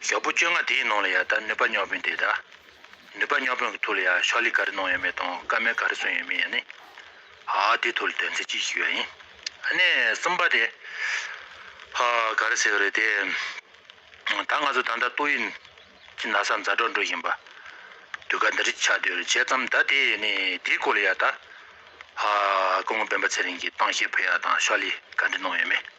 ཞོགས་པོ་བཅོ་ལྔ་དེའི་ནང་ལ་ཡང་ད་ནུས་པ་རྙོག་དཔོན་དེ་དང། ནུས་པ་རྙོག་དཔོན་གྱི་ཐུགས་ལ་ཡང་ཤོག་ལྷེ་ག་རེ་གནང་ཡོད་མེད་དང་སྐར་མའི་ག་རེ་སོན་ཡོད་མེད་ཡང་ནི། ཧ་ཧ་དེའི་ཐུགས་ལ་དོན་ཚན་གཅིག་ཞིག་ཡོད་ཡིན། ཨ་ནེ་གསུམ་པ་དེ། ཧ་ག་རེ་ཟེར་གི་རེད་དེ། ད་ང་ཚོ་ད་ལྟ་ཏོག་དབྱིབས་ཀྱི་ན་བཟའ་མཛའ་གྲོགས་འགྲོ་བཞིན་པ། དུས་སྐབས་འདི་རིགས་ཆགས་དུས་རེ་བྱས་ཙམ་ད་དེ་ནི་དེའི་སྐོར་ལ་ཡང་ད། ཧ་ཧ་ཧ་སྐུ་ངོ་སྤེན་པ་ཚེ་རིང་གིས་ཏང་གཤིས་ཕུད་ཡག་དང་ཤོག་ལྷེ་ག་འདྲི་གནང་ཡོད་མེད།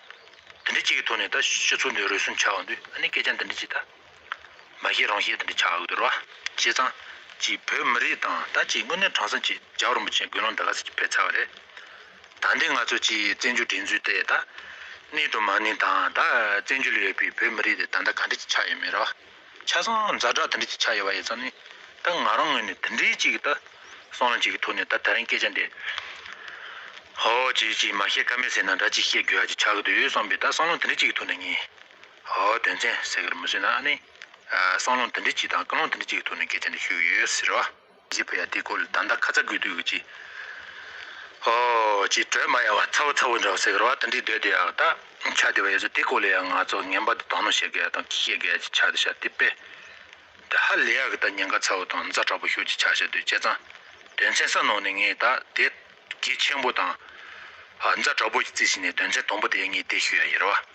འདི་འདྲའི་ཅིག་གི་ཐོག་ནས་ད་ཤི་ཚུལ་འདི་རུལ་སུངས་ཆགས་འོང་དུས་ཨ་ནི་སྐད་ཆ་འདི་འདྲའི་ཅིག་ད་མ་ཤེས་རང་ཤེས་འདི་འདྲའི་ཆགས་འོང་དུར་བ་བྱས་ཙང་ཅིག་བོད་མི་རིགས་དང་ད་ཅིག་དངོས་གནས་དྲང་སྲོང་ཅིག་རྒྱ་རོམ་པོ་ཆེ་དགོན་ལོང་འདི་ག་ཟིག་གི་ཕེབས་ཚར་བ་རེད་ད་འདི་ང་ཚོ་ཅིག་བཙན་བྱོལ་སྒྲིག་འཛུགས་དེ་ད་ནི་དུ་མ་ནི་ད་ད་བཙན་བྱོལ་ཡོད་པའི་བོད་མི་རིགས་དེ་ད་ད་ག་འདྲ་ཅིག་ཆགས་ཡོད་མེད་ར་བ། ཆ་ཚང་འཛའ་དྲག་དེ་འདྲ་ཅིག་ཆགས་ཡོད་པ་ཡིན་ཙང་ནི། ད་ང་རང་ངོས་ནས་དེ་འདྲའི་ཅིག་ད། སྲང་ལམ་ཅིག་གི་ཐོག་ནས་ད་ད་རིང་སྐད་ཆ་འདི། ཧོ། ཅིག་ཅིག་མ་བཤད་ཀ་མེད་ཟེར་ན་འདྲ་ཅིག་བཤད་དགོས་ཡ་ཅིག་ཆགས་ཀྱི་འདུག་ཡོད་བསམ་པས་ད་སྲང་ལམ་དེ་འདྲའི་ཅིག་གི་ཐོག་ནས་ངས། ཧོ། དོན་ཚན་ཟེར་གི་རེད་མི་བཟོད་ན་ཨ་ནི། སྲང་ལམ་དེ་འདྲའི་ཅིག་དང་ཀུན་སློང་དེ་འདྲའི་ཅིག་གི་ཐོག་ནས་སྐད་ཆ་འདི་ཤོད་ཀྱི་ཡོད་ཟེར་བ། རྗེ་བོ་ཡ་དེ་ཁོ་ལ་ད་ལྟ་ཁ་ཚ་དགོས་དུས་ཀྱི། ཧོ། ཅེས་དྲོད་མ་ཡལ་བ་ཚ་བོ་ཚ་བོ་འདྲ་བ་ཟེར་བ་དང་འདྲིས་སྡོད་དེ་ཡག་ད། ཆ་དེ་བས་ཡོད་ཚོད་དེ་ཁོ་ལ་ཡང་ང་ཚོ་ངན་པ་དེ་དང་ནོ་ཞེས་གད་དང་ཁྱི་ཞེས་གད་ཀྱི་ཆ་དེ་བྱ་དེ་དཔེ། དེ་ཧ་ལས་ཡག་གི་ད་ཉེན་ཁ་ཚ་བོ་དང་མཛའ་དྲག་པོ་ཤོར་ཅིག་ཆ་བྱ་དུས་བྱས་ཙང། དོན་ཚན་ས་ནོར་ནས་ངས་ད་དེ། གད་ཆེན་པོ་དང། མཛའ་དྲག་པོ་ཀྱི་རྩིས་བྱས་ནས་དོན་ཚན་དང་པོ་དེ་ངས་དེ་ཤོད་ཡ་ཡིར་བ།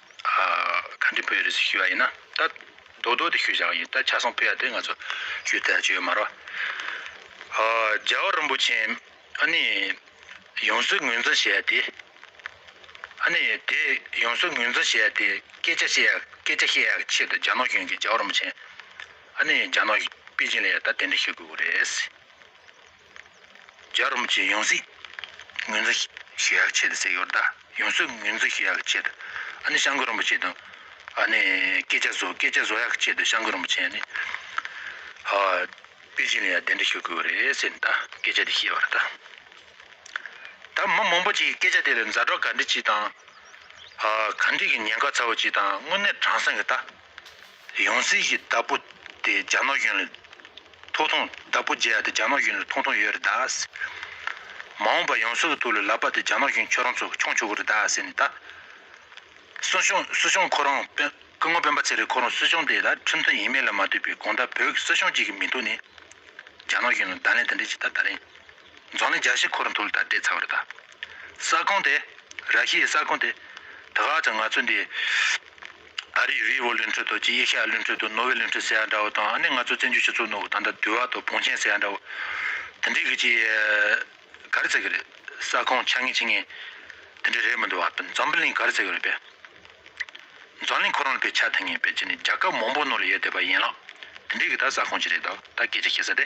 ག་འདྲི་བོད་རེད་ཞུས་པ་ཡིན་ན་ད་རྡོག་རྡོག་དེ་ཞུ་བཞག་ཡིན་ད་ཆ་སང་བོད་ཡ་དེ་ང་ཚོ་ཞུས་ཐལ་ཆོས་མ་རོ། རྒྱལ་བ་རིན་པོ་ཆེ་ཨ་ནི་ཡོངས་སུ་ངོས་འཛིན་བྱས་ཏེ་ཨ་ནི་དེ་ཡོངས་སུ་ངོས་འཛིན་བྱས་ཏེ་སྐད་ཆ་བཤད་སྐད་ཆ་བཤད་ཡག་ཆེད་དུ་རྒྱ་ནག་གཞུང་གིས་རྒྱལ་བ་རིན་པོ་ཆེ་ཨ་ནི་རྒྱ་ནག་པེ་ཅིང་ལ་ཡ་ད་དེ་འདྲི་ཞུ་དགོས་གི་རེད། རྒྱ་རོམ་གྱི་ཡོངས་སྲིད་ངོས་འཛིན་ཞེས་ཡག་ཆད་ཟེར་ཡོད་ད་ཡོངས་སྲིད་ངོས་འཛིན་ཞེས་ཡག་ཆད་ཨ་ནི་ཤང་ཀུ་རོམ་པ་ཆེ་དང་ཨ་ནི་སྐད་ཆ་བཟོ་སྐད་ཆ་བཟོ་ཡག་ཆད་ཤང་ཀུ་རོམ་པ་ཆེ་ཨ་ནི་ཧ་པེ་ཅིན་ལ་ཡང་དེ་འདྲ་ཞུ་དགོས་རེད་ཟེར་ནས་ད་སྐད་ཆ་དེ་བཤད་པར་ད་ད་མི་མང་པོ་ཅིག་སྐད་ཆ་དེ་ལ་མཛའ་གྲོགས་ག་འདྲི་ཅིག་དང་ཧ་ག་འདྲི་གི་ཉེན་ཁ་ཚ་བོ་ཅིག་དང་དངོས་གནས་དྲང་སང་གི་ད། ཡང་སྲིད་ཞིའི་བདག་པོ་དེ་རྒྱ་ནག་གཞུང་ལ་ཐོག་ཐོང་བདག་པོ་བརྒྱད་དེ་རྒྱ་ནག་གཞུང་ལ་ཐོག་ཐོང་ཡོད་རེད་ད། མ་འོངས་པར་ཡང་སྲིད་ལ་ཐུག་ལ་ལབ་པ་དེ་རྒྱ་ནག་གཞུང་ཁྱོད་རང་ཚོ་མཆོང་ཆོག་གི་རེད་ད་ཟེར་ནས་ད། སུ་ཞང་སུ་ཞང་ཁོ་རང་དཔོན་སྐུ་ངོ་དཔོན་པ་ཚེ་རིང་ཁོ་རང་སུ་ཞང་དེ་ད་ཁྲིམས་མཐུན་ཡིན་མིན་ལ་མ་ལྟོས་པའི་གང་ལྟར་བོད་ཀྱི་སུ་ཞང་གཅིག་གི་མིང་ཐོག་ནས་རྒྱ་ནག་གཞུང་ལ་བརྡ་ལན་དེ་འདྲས་བྱས་ད་ད་རིང། རྫོང་ནི་རྒྱ་ཤི་འཁོར་འདུལ་དར་རྒྱས་ཚ་བར་གདའ། ས་ཁོངས་དེ། ར་ཤི་ཡི་ས་ཁོངས་དེ། དགག་ཅིང་ང་ཚོས་འདི། ཨ་རིའི་བྷི་བྷོ་ལུན་ཁྲོད་དུ་ཀྱི་ཡེ་ཤི་ཡ་ལུན་ཁྲོད་དུ་ནོ་བྷེལ་ལུན་ཁྲོད་ཟེར་ཡ་འདྲ་བོ་དང་ཨ་ནི་ང་ཚོས་བཙན་བྱོལ་སྤྱི་ཚོགས་ནོར་བུ་ད་ལྟ་དུལ་བ་དང་བོང་ཆེན་ཟེར་ཡ་འདྲ་བོ། དེ་འདྲའི་གི་ཀྱི། གར་ཟེར་གི་རེད། ས་ཁོངས་ཆ་ངེ་ཆི་ངེ། དེ་འདྲའི་རེད་མི་འདུག་བ། འཛམ་བུ་གླིང་གར་ཟེར་གི་རེད་པས། རྫོང་གླིང་ཁོ་རང་ལ་བའི་ཆ་དེ་ངེས་པས་ཀྱི་ནི་རྒྱ་སྐབས་མང་བོ་ནོར་ལ་ཡོད་བསྡད་པ་ཡིན་ལགས། དེ་འདྲའི་གི་ད་ས་ཁོངས་ཀྱི་རེད་དོ་ད་གི་ཀྱི་ཤི་ས་དེ།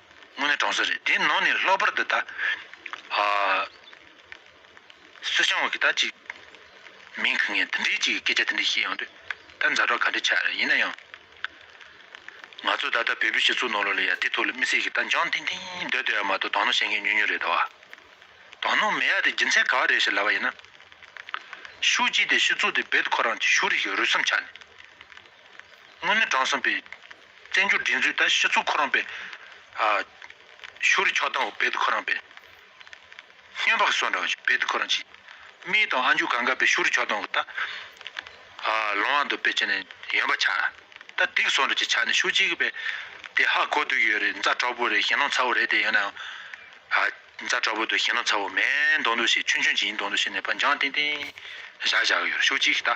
དངོས་གནས་གྲོང་གསེབ་རེད་དེའི་ནང་ནས་ལྷག་པར་དུ་ད། སུ་ཞང་བོད་ཀྱི་ད་ཅིག། མིང་གི་ངས་འདི་འདྲའི་ཅིག་སྐད་ཆ་དེ་འདྲ་བཤད་ཡོང་དུས། ད་མཛའ་གྲོགས་ག་འདྲ་ཆགས་རེད་ཡིན་ན་ཡང། ང་ཚོ་ད་ལྟ་བོད་པའི་སྤྱི་ཚོགས་ནང་ལོགས་ལ་ཡ་དེའི་ཐོག་ལ་མི་སེར་གྱི་ད་འཇང་ཏིང་ཏིང་སྡོད་སྡོད་ཡ་མ་གཏོགས་དང་ནོ་བཤད་མཁན་ཉུང་ཉུང་རེད་དོ། དང་ནོ་མེད་ཡ་དེ་རྒྱུ་མཚན་ག་བ་རེད་ཞེས་ལབ་པ་ཡིན་ན། ཤུགས་ཀྱིས་དེ་ཤུགས་ཚོགས་དེ་རྦད་དེ་ཁོ་རང་ཀྱི་ཤུགས་རིག་གི་རུས་སམ་ཆ་ནས། དངོས་གནས་དྲང་སྲོང་པའི། བཙན་བྱོལ་སྒྲིག་འཛུགས་ད་ཤི་ཚུགས་ཁོ་རང་པའི། ཤོ་རི་ཕྱོགས་དང་བེད་ཁོ་རང་པའི། སྨྱོན་བག་སོ་འདྲ་བེད་ཁོ་རང་ཅི། རྨིས་དང་ཨ་མཇུག་ག་འགའ་པའི་ཤོ་རི་ཕྱོགས་དང་ད། ལོང་བ་འདུག་པའི་ཅི་ནས་ཡོན་པ་ཆ། ད་སྡིག་སོ་འདྲ་ཅི་ཆ་ནས་ཤུགས་ཅི་གི་པའི། དེ་ཧ་གོ་སྡུག་ཡོད་རེད་མཛའ་གྲོགས་པོ་རེད་ཞེ་ནོང་ཚ་བོ་རེད་དེ་ཡོད་ནའང། མཛའ་གྲོགས་པོ་འདུག་ཞེ་ནོང་ཚ་བོ་མེད་མདོག་འདུག་ཞེ་ཆུན་ཆུན་ཅི་ཡིན་མདོག་འདུག་ཞེ་ནས་པ་འཇང་ཏིང་ཏིང། བཞག་བཞག་གི་ཡོད་རེད་ཤུགས་ཅི་གི་ད།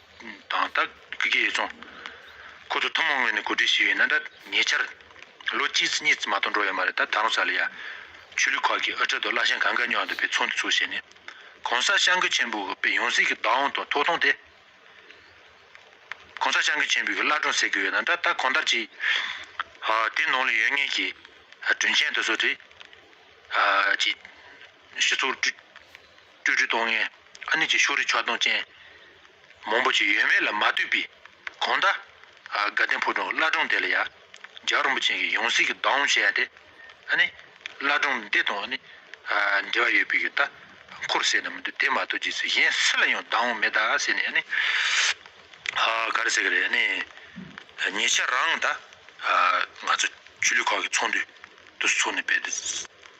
དང་རྟ་སྒེའི་རྫོང། ཁོ་ཚོ་ཐུན་མོང་ངོས་ནས་གོ་སྒྲིག་བྱས་ཡོད་ན་འདྲ། ཉེ་ཆར། ལོ་གཅིག་ཙི་གཉིས་ཙི་མ་གཏོགས་འགྲོ་ཡོད་མ་རེད་ད་ད་རུང་ས་ལ་ཡ། ཆོས་ལུགས་ཁག་གིས་ཨི་ཁྲ་དང་བླ་ཤང་གང་ག་ཉོག་འདུག་པའི་ཚོགས་འདུ་ཚུགས་བྱས་ནས། གོང་ས་ཤང་གི་ཆེན་པོའི་པའི་ཡོངས་གཟིགས་ཀྱི་བདག་དབང་དང་ཐོག་ཐོང་དེ། གོང་ས་ཤང་གི་ཆེན་པོའི་བླ་སྒྲུང་ཟེར་གྱི་ཡོད་ན་འདྲ་ད་གང་ལྟར་གྱི། དེ་ནང་ལ་ཡོད་ངེས་ཀྱི། དྲུང་ཆེན་དེ་ཚོ་དེ། ཀྱི། ཞུ་ཚོགས་བསྒྲུབ། སྤྲོས་བྲལ་སྟོང་ངེ་ཨ་ནི་ཅིག་ཤོས་རིག་ཆོག་སྟོང་ཅན། མང་པོ་ཅིག་ཡོད་མེད་ལ་མ་ལྟོས་པའི་གང་ཟླ། དགའ་ལྡན་ཕོ་བྲང་བླ་བྲང་འདི་ལ་ཡང། ལྗགས་རིན་པོ་ཆེན་གྱི་ཡང་སྲིད་ཀྱི་བདག་དབང་བྱས་ཡ་དེ། ཨ་ནི། བླ་བྲང་འདི་དང་ཨ་ནི། འབྲེལ་བ་ཡོད་པའི་ཡོད་ད། འཁོར་ཟེར་ན་མི་འདུག་དེ་མ་གཏོགས་རྗེས་སུ་གཞན་སུ་ལ་ཡང་བདག་དབང་མེད་ད་ཟེར་ནས་ཨ་ནི། ག་རེ་ཟེར་གི་རེད་ཨ་ནི། ཉེ་ཆར་རང་ད། ང་ཚོ་ཆོས་ལུགས་ཁག་གི་ཚོགས་འདུ། དུ་ཚུགས་ནས་དཔེ་དེ།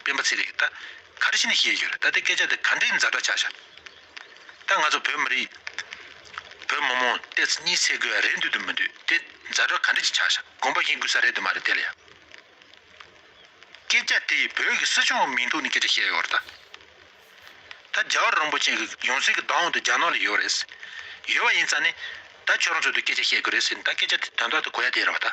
སྤེན་པ་ཚེ་རིང་ད་ག་རེ་བྱེད་ནས་ཤེས་ཀྱི་རེད་ད་དེ་སྐད་ཆ་དེ་ག་འདྲའི་འཛའ་དྲག་ཆགས་ཤག་ད་ང་ཚོ་བོད་མི་རིགས་བོད་མི་མོང་སྟེ་ཚེ་གཉིས་ཚེ་དགོས་ཡ་རེད་འདོད་དུ་མི་འདོད་དེ་འཛའ་དྲག་ག་འདྲ་ཅིག་ཆགས་ཤག་དགོངས་པ་བཞིན་དགོས་ས་རེད་དུ་མ་རེད་དེ་ལ་ཡ། སྐད་ཆ་དེ་བོད་ཀྱི་སྲིད་སྐྱོང་མིང་ཐོག་ནས་སྐད་ཆ་བཤད་ཡོད་རེད་ད། ད་རྒྱ་གར་རོང་པོ་ཅན་གྱི་ཡོངས་སྲིད་ཀྱི་བདག་དབང་དུ་རྒྱ་ནག་ལ་ཡོད་རེད། ཡོད་པ་ཡིན་ཙང་ནི་ད་ཁྱོད་རང་ཚོ་དེ་སྐད་ཆ་བཤད་དགོས་རེད་ཟེར་ནས་ད་སྐད་ཆ་དེ་དོན་དག་དེ་གོ་ཡ་དེ་རེད་བ་ད།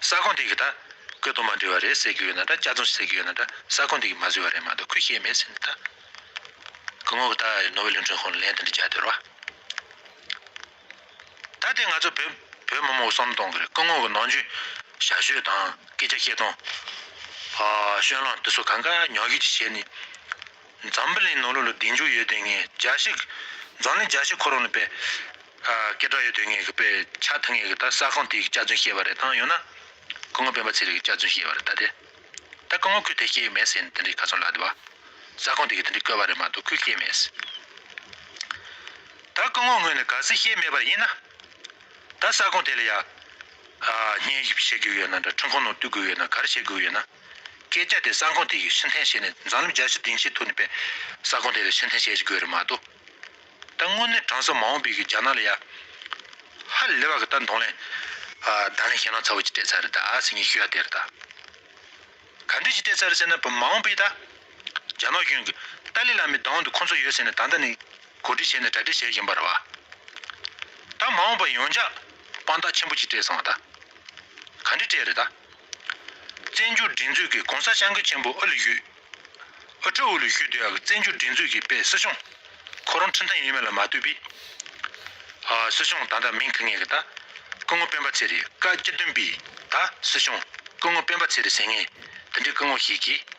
ས་ཁོངས་དེ་གི་ད་གོས་དོ་མ་འདྲི་བ་རེད་ཟེར་གི་ཡོད་ན་འདྲ་དཔྱ་རྩོམ་ཟེར་གི་ཡོད་ན་འདྲ་ས་ཁོངས་དེ་གི་མ་བཟོས་བ་རེད་མ་འདུག་ཁུ་ཤེས་མེད་ཟེར་ནི་ད་གོས་མོ་བུ་ད་ནོ་བེ་ལུན་ཁྲོན་ཁོང་ལ་ལན་དེ་འདྲ་རྒྱག་འདོད་རོ། ད་ལྟའི་ང་ཚོ་བོད་བོད་མོ་མོ་བསམ་གཏོང་གི་རེད་ཀུན་ངོ་གི་ནང་རྒྱུན་ཞར་བཤོད་དང་སྐད་ཆ་བཤད་སྟངས། བ་བཤོད་ལངས་དེ་ཚོ་གང་ག་ཉག་གིས་ཀྱི་བྱས་ནི། འཛམ་བུ་གླིང་ནོར་ལུག་ལ་བདེ་འཇུག་ཡོད་དོན་ངེས་རྒྱ་ཞིག། འཛམ་གླིང་རྒྱ་ཞིག་ཁོ་རང་ལ་པའི། སྐད་གྲགས་ཡོད་དོན་ངེས་གི་པའི་ཆ་མཐུན་ངེས་གི་ད་ས་ཁང་དེའི་གི་སྐྱག་རྫུན་བཤད་པ་རེད་ད་ཡོང་ན། སྐུ་ངོ་སྤེན་པ་ཚེ་རིང་གི་སྐྱག་རྫུན་བཤད་པ་རེད་ད་དེ། ད་སྐུ་ངོ་ཁུལ་དེ་སྐྱེས་ཡི་མེད་ཟེར་ནི་དེ་འདྲའི་ག་ཚོད་ལགས་དེ་བ། ས་ཁང་དེ་གི་དེ་འདྲའི་བཀོད་པ་རེད་མ་གཏོགས་ཁུལ་སྐྱེས་མེད་ཟེར། ད་སྐུ་ངོ་ངོས་ནས་ག་ཚོད་ཤེས་མེད་པར་ཡིན་ན། ད་ས་ཁང་དེ་ལ་ཡ། ཉེས་བཤད་དགོས་ཡོད་ན་འདྲ་འཕྲུལ་ཁང་ནང་བཏུལ་དགོས་ཡོད་ན་ག་རེ་བྱེད་དགོས་ཡོད་ན། སྐད་ཆ་དེ་ས་ཁོངས་དེ་གའི་ཕྱི་འཐེན་བྱས་ནས་འཛམ་གླིང་རྒྱལ་སྤྱིའི་སྡིངས་ཆའི་ཐོག་ནས་པའི་ས་ཁོངས་དེ་ལ་ཕྱི་འཐེན་བྱེད་དགོས་རེད་མ་གཏོགས། ད་དངོས་གནས་དྲང་སྲོང་མ་འོངས་པའི་གིས་རྒྱ་ནག་ལ་ཡ། ཧ་ལས་པ་གི་ད་མདོང་ལན། དང་ལེན་ཞེ་ནང་ཚ་བོ་ཅིག་སྤྲད་ཚར་རེད་ད་ཨ་སི་ངའི་ཤུ་ཡ་དེ་རེད་ད། ག་འདྲི་ཞིག་སྤྲད་ཚར་ཟེར་ན་བུ་མ་འོངས་པའི་ད། རྒྱ་ནག་གཞུང་གི་ཏཱ་ལི་ལ་མའི་བདག་དབང་དུ་ཁོ་ཚོ་ཡོད་ཟེར་ནས་ད་ལྟ་ནས་གོ་སྒྲིག་བྱས་ནས་གྲ་སྒྲིག་བྱས་བཞིན་པ་རེད་བ། ད་མ་འོངས་པ་ཡོངས་ཆགས་དཔང་རྟགས་ཆེན་པོ་ཅིག་སྤྲད་སོང་བ་ད། ག་འདྲི་སྤྲད་རེད་ད། བཙན་བྱོལ་སྒྲིག་འཛུགས་ཀྱི་གོང་ས་ཤང་ཀུན་ཆེན་པོ་ཨུ་ལུ་ཞུས། ཨུ་ཁྲོ་ཨུ་ལུ་ཞུས་དེའང་བཙན་བྱོལ་སྒྲིག་འཛུགས་ཀྱི་དཔེ་སྲིད་གཞུང། ཁོ་རང་འཁྲི་མཐའ་ཡོད་མེད་ལ་མ་ལྟོས་པའི། སྲིད་གཞུང་ད་ལྟ་མིང་ཁུར་ངེས་ཀྱི་ད། སྐུ་ངོ་སྤེན་པ་ཚེ་རིང་བཀའ་སྤྱི་བདུན་པའི་ད་སྲིད་གཞུང། སྐུ་ངོ་སྤེན་པ་ཚེ་རིང་ཟེར་ངེས་དེ་འདྲའི་སྐུ་ངོ་ཞིག་གིས།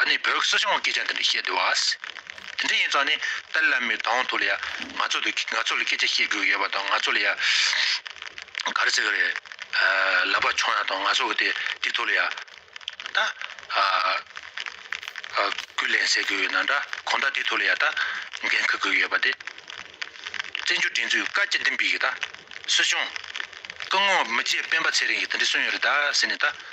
ཨ་ནི་བོད་སྲིད་སྐྱོང་སྐད་ཆ་འདི་འདྲ་བཤད་འདོད་བ། དེ་འདྲ་ཡིན་ཙང་ནི་ཏཱ་ལའི་བླ་མའི་དང་ཐོག་ལ་ཡ་ང་ཚོ་དང་ང་ཚོ་ལ་སྐད་ཆ་བཤད་དགོས་ཡོད་པ་དང་ང་ཚོ་ལ་ཡ་ག་རེ་ཟེར་གི་རེད། ལབ་པ་ཆོག་ཡང་དང་ང་ཚོ་དེ་དེ་ཐོག་ལ་ཡ་ད་ཀུན་ལན་ཟེར་དགོས་ཡོད་ན་འདྲ་གོང་ད་དེ་ཐོག་ལ་ཡ་ད་འགན་འཁུར་དགོས་ཡོད་པ་དེ། བཙན་བྱོལ་སྒྲིག་འཛུགས་བཀའ་སྤྱི་བདུན་པའི་གི་ད་སྲིད་སྐྱོང། སྐུ་ངོ་མི་རྗེ་སྤེན་པ་ཚེ་རིང་གིས་དེ་འདྲ་གསུངས་ཡོད་རེད་ད་ཟེར་ནས་ད།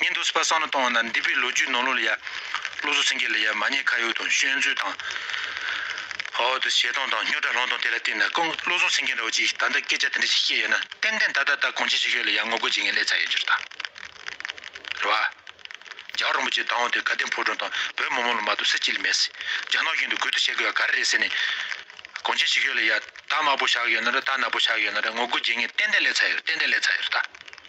ཉིན་དུ་སྤ་སང་ལ་གཏོང་བ་ན་འདི་པའི་ལོ་རྒྱུས་ནོར་ལོ་ལ་ཡ། ལོ་སོ་སེང་གེ་ལ་ཡ་མ་ཉེས་ཁ་ཡོག་དང་བཤོལ་མཛོད་དང། འོ་དོ་ཞེ་སྡང་དང་སྨྱོ་དགྲ་སློང་དང་དེ་ལ་བརྟེན་ན་ཀུན་བློ་བཟང་སེང་གེ་འདྲ་བ་ཅིག་ད་ལྟ་སྐད་ཆ་དེ་འདྲ་ཞིག་བཤད་ཡོད་ན་ཏན་ཏན་ད་ད་ད་གོང་ཆེན་ཞིག་ཤོས་ལ་ཡ་ངོ་རྒོལ་བྱེད་མཁན་ལས་ཚ་ཡོད་ཅོར་དང། རེད་བ། རྒྱ་རོང་པོ་ཆེ་སྡང་བོ་དེ་དགའ་ལྡན་ཕོ་བྲང་དང་བོད་མི་མང་ལ་མ་གཏོགས་སེ་ཅི་ལ་མེད་སྲིད་རྒྱ་ནག་གཞུང་དུ་གུད་དུ་བཤད་དགོས་བ་ག་རེ་རེད་ཟེར་ནས། གོང་ཆེན་ཞིག་ཤོས་ལ་ཡ་ད་དམར་པོ་ཞག་ཡོད་ན་ར་ད་ནག་པོ་ཞག་ཡོད་ན་ར་ངོ་རྒོལ་བྱེད་མཁན་ཏན་ཏན་ལས་ཚ་ཡོད་རེད་ཏན་ཏན་ལས་ཚ་ཡོད་རེད་ད།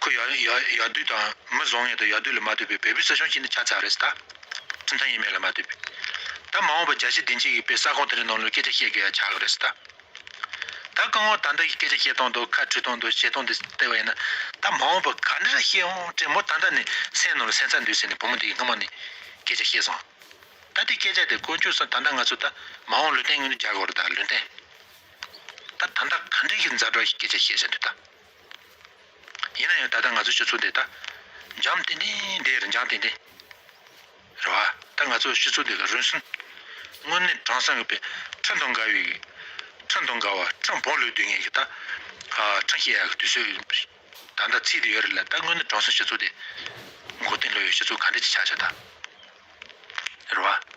ཁོས་ཡ་ཡ་ཡ་དུས་དང་མི་བཟང་ངན་དུ་ཡ་དུས་ལ་མ་ལྟོས་པའི་བལ་པོའི་ས་ཞིང་གཅིག་ནི་ཆ་ཚ་རེད་ད། ཁྲིམས་ཐང་ཡིན་མིན་ལ་མ་ལྟོས་པའི། ད་མ་འོངས་པར་རྒྱ་ཆེ་བདེ་འཇིགས་ཡིན་པས་ས་ཁོངས་དེ་རིང་ནང་ལོའི་སྐད་ཆ་བཤད་དགོས་ཡ་ཆགས་རེད་ད། ད་རྐང་ངོ་ད་འདི་ཡི་སྐད་ཆ་བཤད་སྟངས་དང་ཁ་འཁྲུལ་སྟངས་དང་བཤད་སྟངས་དེ་ལྟ་བ་ཡིན་ན། ད་མ་འོངས་པར་ག་འདྲ་རེ་བཤད་འོང་དྲན་མོ་ད་ལྟ་ནས་སེམས་ནང་ལ་སེམས་ཚ་འདུས་ཟེར་ནས་བུ་མོ་དེ་ཡི་སྔ་མོ་ནས་སྐད་ཆ་བཤད་སོང། ད་དེ་སྐད་ཆ་དེ་དཀོན་མཆོག་སང་ད་ལྟ་ང་ཚོ་ད་མ་འོངས་ལུས་རྟེན་ངོས་ནས་རྒྱག་དགོས་རེད་ད་ལུས་རྟེན། ད་ད་ལྟ་ག་འདྲ་ཞིག་མཛའ་གྲོགས་ཞིག་སྐད་ཆ་བཤད་བྱ་འདོད་ད། ཡིན་ན་ཡང་ད་ལྟ་ང་ཚོའི་སྤྱི་ཚོགས་འདི་ད་འཇམ་ཏིང་ཏིང་དེ་རིན་འཇམ་ཏིང་ཏིང་རེད་བ། ད་ང་ཚོའི་སྤྱི་ཚོགས་འདི་ལ་རུན་སུན་དངོས་གནས་དྲང་སྲང་གི་པའི་ཁྲིམས་དང་འགལ་བའི་ཁྲིམས་དང་འགལ་བ་ཁྲིམས་བོང་ལུས་དུས་ངན་གི་ད་ཁྲིམས་ཤེས་ཡ་གི་དུས་སུ་ད་ལྟ་ཚིག་དེ་ཡོད་རེད་ལ་ད་དངོས་གནས་དྲང་སྲོང་སྤྱི་ཚོགས་འདི་མགོ་རྟིང་ལོ་ཡོད་སྤྱི་ཚོགས་ག་འདྲ་ཅིག་ཆགས་ཆགས་ད་རེད་བ།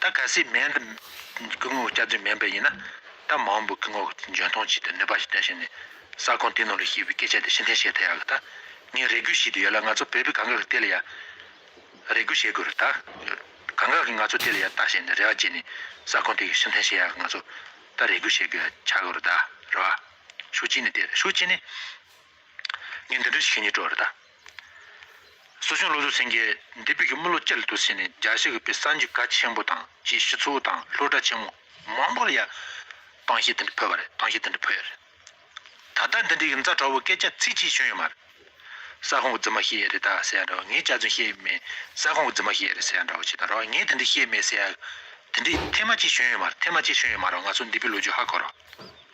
ད་གལ་སྲིད་མེད་དུ་སྐུ་ངོ་བསྐྱར་འཛུགས་མེད་པ་ཡིན་ན། ད་མ་འོངས་པའི་སྐུ་ངོ་འཇོན་ཐང་ཅིག་དང་ནུས་པ་ཞིག་ལྡན་ཞིང་ནས་ས་ཁོངས་དེའི་ནང་ལ་ཞེས་པའི་སྐད་ཆ་དེ་ཕྱི་འཐེན་བྱེད་ཐལ་ཡག་གི་ད་ངས་རེ་སྒུག་བྱེད་དུ་ཡོད་ལ་ང་ཚོ་བོད་པའི་གངས་འགག་དེ་ལ་ཡང་རེ་སྒུག་བྱེད་དགོས་རེད་ད། གངས་འགག་གིས་ང་ཚོ་དེ་ལ་ཡང་ལྟ་བྱས་ནས་རེ་བ་བྱས་ནས་ས་ཁོངས་དེ་ཕྱི་འཐེན་བྱེད་ཡག་ང་ཚོ་ད་རེ་སྒུག་བྱེད་དགོས་ཡ་ཆགས་དགོས་རེད་ད་རེད་བ། ཤུགས་ཆེ་ནས་དེ་རེད་ཤུགས་ཆེ་ནས་ངས་འདི་འདྲ་ཞིག་བཤད་ཉེས་དཀྲོགས་རེད་ད། སོ་བྱུང་ལོ་ཚོད་ཟིན་རྗེས་འདས་དཔལ་གྱི་དམུ་ལོ་ཅི་ལ་དུ་ཟིན་ནས་རྒྱ་གཞུ་གི་པའི་སངས་རྒྱས་ག་ཆེན་པོ་དང་བཅས་ཤི་ཚུལ་དང་ལྷོ་བྲག་ཆེན་མོ་མང་པོ་ལ་ཡང་དྭངས་ཤིང་དེ་འདྲ་འཕོས་པ་རེད་དྭངས་ཤིང་དེ་འདྲ་འཕོས་ཡོད་རེད་ད་ལྟ་འདི་འདྲའི་གི་མཛའ་གྲ་བོ་སྐད་ཆ་ཚིག་གཅིག་བྱུང་ཡོད་མ་རེད་ས་ཁོང་གི་རྫི་མ་ཤེས་ཡས་རེད་ད་ཟེར་ཡ་འདྲ་བ་ངས་ཅག་ཚུན་ཤེས་ཡས་མེད་ས་ཁོང་གི་རྫི་མ་ཤེས་ཡས་རེད་ཟེར་ཡ་འདྲ་བ་ཅིག་དང་ར་བ་ངས་དེ་འདྲ་ཤེས་མེད་ཟེར་ཡ་འདི་འདྲའི་ཐེངས་མ་གཅིག་བྱུང་ཡོད་མ་རེད་ཐེངས་མ་གཅིག་བྱུང་ཡོད་མ་རེད་ང་ཚོ་འདས་པའི་ལོ་རྒྱུས་ཧ་གོ་རོགས།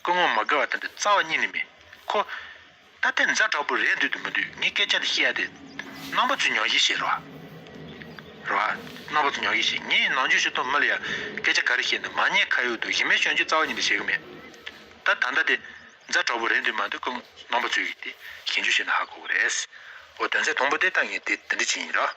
སྐུ་ངོ་མ་དགེ་བ་དམ་པའི་རྩ་བ་གཉིས་ནི་མེད། ཁོ། ད་ལྟའི་མཛའ་གྲོགས་པོ་རེད་འདོད་དུ་མི་འདོད་ངས་སྐད་ཆ་འདི་བཤད་ཡ་དེ། རྣམ་པ་ཚོས་ཉོག་གཞི་བཤད་རོགས། རོགས། རྣམ་པ་ཚོས་ཉོག་གཞི་བཤད་ངས་ནང་ཆོས་ཤེས་དོགས་མི་ལ་ཡ། སྐད་ཆ་ག་རེ་བཤད་འདུག་མ་ཉེས་ཁ་ཡོག་འདུག་གཞི་མེད་གཞོན་སྐྱེས་རྩ་བ་གཉིས་འདི་བྱེད་གི་མེད། ད་ད་ལྟ་དེ། མཛའ་གྲོགས་པོ་རེད་འདོད་མ་འདོད་སྐུ་ངོ། རྣམ་པ་ཚོས་གིས་དེ། ཞེན་ཆོས་བཤད་ན་ཧ་གོ་གི་རེད། འོ་དོན་ཚན་དང་པོ་དེ་ལྟར་ངས་དེ་འདི་འདྲི་བྱེད་ཡིན་རོགས།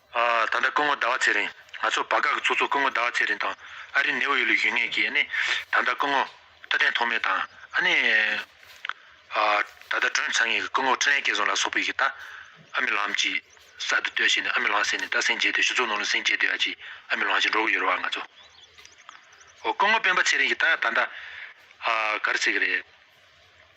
ད་ལྟ་སྐུ་ངོ་ཟླ་བ་ཚེ་རིང་ང་ཚོ་བར་སྐབས་ཀྱི་ཚོགས་གཙོ་སྐུ་ངོ་ཟླ་བ་ཚེ་རིང་དང་ཨ་རིའི་ནེའུ་ཡོག་ལ་ཡོད་ངེས་ཀྱི་ད་ལྟ་སྐུ་ངོ་རྟ་བརྟན་ཐོགས་མེད་དང་ཨ་ནེ་ད་ལྟ་སྒྲོན་ཚང་ངེས་ཀྱི་སྐུ་ངོ་ཁྲི་ལན་སྐལ་བཟང་ལ་སོགས་པོ་ཡི་གི་ད་ཨ་མི་ལང་ཅི་ས་དུ་སྡོད་ཤེས་ནས་ཨ་མི་ལང་ཟེར་ནས་ད་སེང་རྒྱས་དུས་ཞུ་ཚོགས་ནང་ལ་སེང་རྒྱས་དུས་ཨ་ཅི་ཨ་མི་ལང་ཞེས་འགྲོ་གི་ཡོད་རེད་བ་ང་ཚོ་ཨོ་སྐུ་ངོ་སྤེན་པ་ཚེ་རིང་གི་ད་ད་ད་ཨ་ག་རེ་ཟེར་གི་རེད།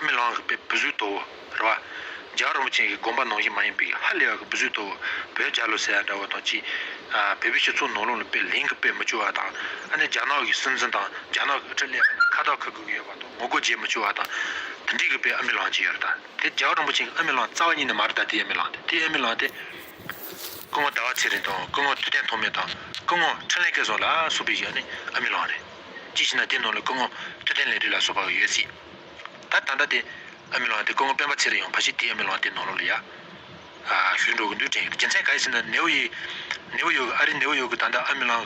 རྨི་ལམ་རིག་པའི་བུ་བཟོད་དོ། རེ་བ། འཇའ་རིན་པོ་ཆེན་གྱི་དགོངས་པ་ནང་བཞིན་མ་ཡིན་པའི་ཧ་ལས་པ་གྱི་བུ་བཟོད་དོ། བོད་རྒྱ་ལོ་ཟེར་ཡ་འདྲ་བོ་དང་གཅིག། བོད་པའི་ཞིབ་ཚོགས་ནང་ལུང་ལ་དཔེ་ལེན་གྱི་དཔེ་མི་བཅོལ་བ་དང། ཨ་ནེ་རྒྱ་ནག་གི་སྲིད་འཛིན་དང་རྒྱ་ནག་གི་ཨུ་ཁྲི་ལས་པ་རྣམས་ཁ་བཏགས་འཁུར་དགོས་ཀྱི་ཡོད་པ་དང་ངོ་རྒོལ་བྱེད་མི་བཅོལ་བ་དང། དེ་འདྲིའི་གྱི་དཔེ་ཨ་རྨི་ལམ་གྱི་ཡོད་རེ་ད། དེ་འཇའ་རིན་པོ་ཆེན་གྱི་ཨ་རྨི་ལམ་རྩ་བ་ཉིད་ནས་མ་རེ་ད་དེའི་ཨ་རྨི་ལམ་དེ་དེའི་ཨ་རྨི་ལམ་དེ། སྐུ་ངོ་ཟླ་བ་ཚེ་རིང་དང་སྐུ་ངོ་དུས་བསྟན་ཐོགས་མེད་དང་སྐུ་ངོ་འཕྲིན་ལས་སྐལ་བཟང་ལ་སོགས་པའི་གྱི་ཨ་ནེ་ཨ་རྨི་ལམ་རེད། ཅི་ཞེ་ན་དེའི་ནང་ལ་སྐུ་ངོ་མཐུ་ལྡན་ལས་རིགས་ལ་སོགས་པའང་ཡོད་སྲིད། ད་ད་ལྟ་དེ་ཨ་མི་ལོང་དེ་སྐུ་ངོ་སྤེན་པ་ཚེ་རིང་ཡང་ཕ་གཞིས་དེའི་ཨ་མི་ལོང་དེའི་ནང་ལོགས་ལ་ཡ་ཞུས་འགྲོ་གི་འདུག་དྲན་གི་རྒྱུ་མཚན་ག་ཡི་ཟེར་ན་ནེའུ་ཡི་ནེའུ་ཡོག་ཨ་རིའི་ནེའུ་ཡོག་གི་ད་ལྟ་ཨ་མི་ལང་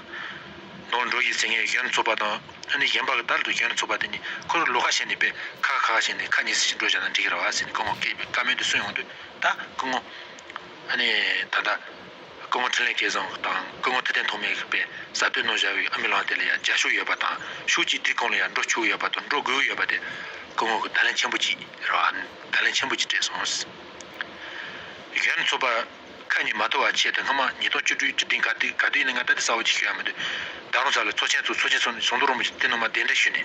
ནང་འགྲོ་གི་ཟེར་མཁན་གཞོན་ཚོགས་པ་དང་ཨ་ནི་གཞན་པ་ག་དར་འདུག་གཞོན་ཚོགས་པ་དེ་གཉིས་ཁོ་རུ་ལོ་ཁ་ཤས་ནས་པས་ཁ་ཁ་ཁ་ཁ་བྱས་ནས་ཁ་གཉིས་སུ་ཞིག་འགྲོ་བཞག་ན་འགྲིག་གི་ར་བ་ཟེར་ནས་སྐུ་ངོ་སྐད་པའི་བཀའ་མོལ་དུ་གསུངས་ཡོང་དུས་ད་སྐུ་ངོ་ཨ་ནི་ད་ད། སྐུ་ངོ་འཕྲིན་ལས་སྐལ་བཟང་དང་སྐུ་ངོ་ཐུབ་བསྟན་ཐོགས་མེད་པའི་གསར་དོན་ནོར་བཞག་པའི་ཨ་མི་ལང་དེ་ལ་ཡང་ཇག་ཤུགས་ཡོད་པ་དང་ཤུགས་གཅིག་སྒྲིལ་གང་ལ་ཡང་འགྲོ་ཆུག་ཡོད་པ་དང་འགྲོ་དགོས་ཡོད་པ་དེ་སྐུ་ངོ་གི་ད་ལན་ཆེན་པོ་གཅིག་རེད་བ་ད་ལན་ཆེན་པོ་གཅིག་སྤྲད་སོང། གཞོན་ཚོ་པ་ཁ་ཉིན་མ་ཐོ་བ་ཆེད་དུ་སྔ་མ་ཉིས་སྟོང་བཅུ་དྲུག་ཀྱི་སྟེང་ག་དུས་ག་དུས་ཡིན་ན་ང་ད་ལྟ་ས་འོག་གཅིག་ཤོད་ཡ་མི་འདུག་ད་རུང་ས་ལ་ཚོགས་ཆེན་ཚོགས་ཚོགས་ཆེན་ཚོགས་ནས་ཟུང་དུ་རོང་པོ་ཆེ་དེ་ནང་མ་བདེ་འདྲ་ཞུས་ནས།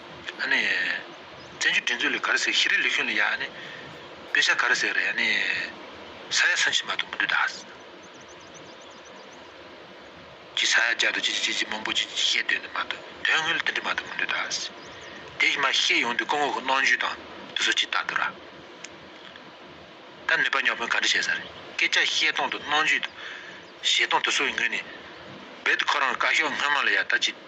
བཙན་བྱོལ་སྒྲིག་འཛུགས་ལས་ག་རེ་ཟེར་ཤི་རི་ལི་ཤུན་ལི་ཡ་དཔེ་ཆ་ག་རེ་ཟེར་ས་ཡ་སུན་ཕྱི་མ་དུ་མི་འདུག་ད་ཅི་ས་ཡ་བརྒྱ་དུ་ཅི་ཅི་ཅི་མང་པོ་ཅི་ཅི་བཤད་དོན་དུ་མ་འདུག་དོན་དངོས་ལ་དེ་འདྲ་མ་དུ་མི་འདུག་ད་དེ་ཕྱི་མ་ཤེས་ཡོང་དུས་སྐུ་ངོ་གི་གནང་བརྒྱུད་དང་དུ་སུ་ཅིག་ད་དུ་ར་ད་ནུས་པ་ཉོག་ཕོན་ག་འདྲ་བྱེད་ས་རེད་སྐད་ཆ་བཤད་སྟངས་དུ་གནང་བརྒྱུད་དང་བྱེད་སྟངས་དུ་སུ་ཡི་ངོས་ནས་རྦད་དུ་ཁོ་རང་གི་བཀའ་ཤོག་སྔོན་མ་ལ་ཡ་ད་ཅི།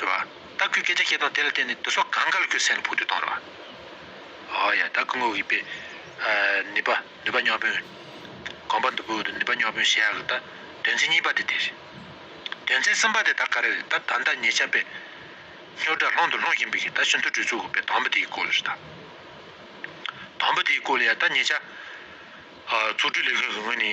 རེད་བ། ད་སྐུའི་སྐད་ཆ་བཤད་སྟངས་དེ་ལ་བརྟེན་ནས་བདུད་སོག་གངས་དཀར་ལ་ཁྱོད་སེམས་ལ་ཕུག་འདོད་གཏོང་རེད་བ། ཨོ་ཡ་ད་སྐུ་ངོ་གིས་པས། ནུས་པ་ནུས་པ་སྨྱོ་བོན། གོམ་པ་འདུ་བུ་འདུ་ནུས་པ་སྨྱོ་བོན་ཞེ་ཡག་གི་ད་དོན་ཚན་གཉིས་པ་དེ་དེ་རེད། དོན་ཚན་གསུམ་པ་དེ་ད་ག་རེ་རེད་ད་ད་ཟླ་ཉེ་ཆར་པས། སྨྱོ་དགྲ་སློང་དུ་ལྷུང་བཞིན་པའི་གིས་ད་ཤིན་ཏུ་གྲོས་ཚུགས་དགོས་པའི་དང་པོ་དེའི་སྐོར་ལ་རེད་ད། དང་པོ་དེའི་སྐོར་ལ་ཡ་ད་ཉེ་ཆར། ཚོགས་དྲུག་ལས་ཁུངས་ཀྱི་ངོས་ནས།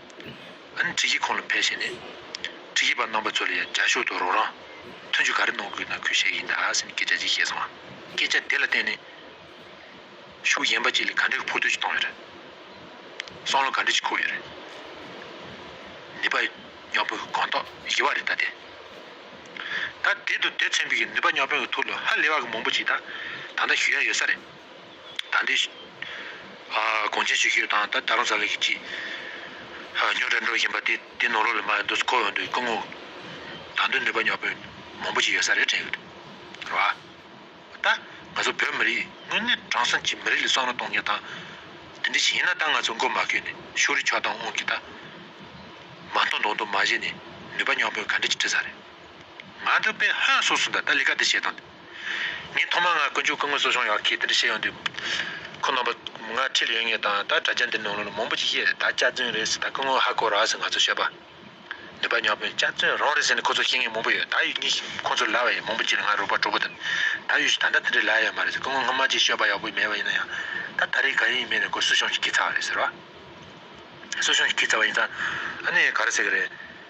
ཨན་ཀྲིག་གིས་ཁོང་ལ་ཕེབས་བྱས་ནས། ཀྲིག་གིས་པ་རྣམ་པ་ཚོ་ལ་ཡང་རྒྱ་ཤོག་ཏུ་རོགས་རང། མཐུན་འཇུག་ག་རེ་གནང་དགོས་ན་ཁོས་བྱེད་ཀྱི་ཡིན་ད་ཟེར་ནས་སྐད་ཆ་ཅིག་བཤད་སོང། སྐད་ཆ་དེ་ལ་བརྟེན་ནས། ཤུགས་ཡན་པ་ཅིག་ལས་ག་འདྲའི་འཕུར་སྟོན་ཞིག་བཏང་ཡོད་རེད། སང་ལོ་ག་འདྲ་ཞིག་ཁུག་ཡོད་རེད། ནུས་པ་རྙོག་དཔོན་གྱི་གང་དག་ཡིད་བག་རེད་ད་དེ། ད་དེད་དུ་དེད་ཚན་པའི་ནུས་པ་རྙོག་དཔོན་གྱི་ཐུགས་ལ་ཧ་ལས་བ་གི་མང་པོ་ཅིག་ད་ད་ལྟ་ཞུ་ཡ་ཡོད་ས་རེད། ད་ལྟའི་གོང་ཆེན་ཞིག་ཤོད་དང་ད་ད་རུང་ཟ་ལེ་གི་ཅི་ཉོ་དྲ་འགྲོ་བཞིན་པ་དེ་དེ་ནོར་ལོག་ལས་མ་ཡོད་འདུག་ཁོ་འོན་དུ་སྐུ་ངོ་ད་དུང་ནུས་པ་ཉོག་པོས་མང་པོ་ཞིག་ཡོད་ས་རེད་དྲན་ཡོད་རེད་བ། ད་ང་ཚོ་བོད་མི་རིགས་དངོས་གནས་དྲང་སྲོང་གི་མི་རིགས་ལ་བསམ་བློ་གཏོང་ངེས་དང་དེ་འདྲ་ཞིག་ཡིན་ན་ད་ང་ཚོ་མགོ་མ་ཁྱོད་ནས་ཤོག་རི་ཆོག་དང་དབང་གི་ད་མ་མཐོང་མདོག་མདོག་མ་བྱེད་ནས་ནུས་པ་ཉོག་པོས་ག་འདྲ་ཅིག་བྲིས་ས་རེད་ང་འདི་དཔེ་ཧོན་སོགས་སུ་འདའ་ད་ལི་ཀ་འདི་བྱེད་དང་འདི། ངས་ཐོག་མར་ང་དཀོན་མཆོག་སྐུ་དངོས་གསོ་སྦྱོང་ཡག་གི་དེ་འདྲ་བྱེད་ཡོང་དུས། ཁོ་རྣམ་པ་ང་འཁྲིད་ཡོད་ངེས་དང་ད་དྲ་རྒྱ་འདིར་ནང་ལོག་ལ་མང་པོ་ཅིག་བཤད་རེད་ད་སྐྱག་རྫུན་རེད་ཟེར་ད་སྐུ་དངོས་ཧ་གོ་ར་ཟེར་ང་ཚོ་བཤད་པ་ནུས་པ་ཉག་པོ་ཡིན་སྐྱག་རྫུན་རང་རེད་ཟེར་ནས་ཁོ་ཚོ་ཤེས་ངེས་མང་པོ་ཡོད་ད་ཡུལ་གཉིས་ཤིག་ཁོ་ཚོ་ལ་བ་ཡིན་མང་པོ་ཅིག་ལ་ང་རུ་བ་གྲོགས་པོ་དང་ད་ཡུལ་ཤིག་ད་ལྟ་དེ་འདྲ་ལ་ཡོད་མ་རེད་ཟེར་སྐུ་དངོས་སྔོན་མ་ཅིག་ཤོད་པ་ཡག་པོ་མེད་པ་ཡིན་ན་ཡང་ད་ད་རེས་ག་ཡིན་མིན་ནས་ཁོ་གསོ་སྦྱོང་ཞིག་གི་ཚར་བ་རེད་ཟེར་བ། གསོ་སྦྱོང་ཞིག་གི་ཚར་བ་ཡིན་ཙང་ཨ་ནི་ག་རེ་ཟེར་གི་རེད།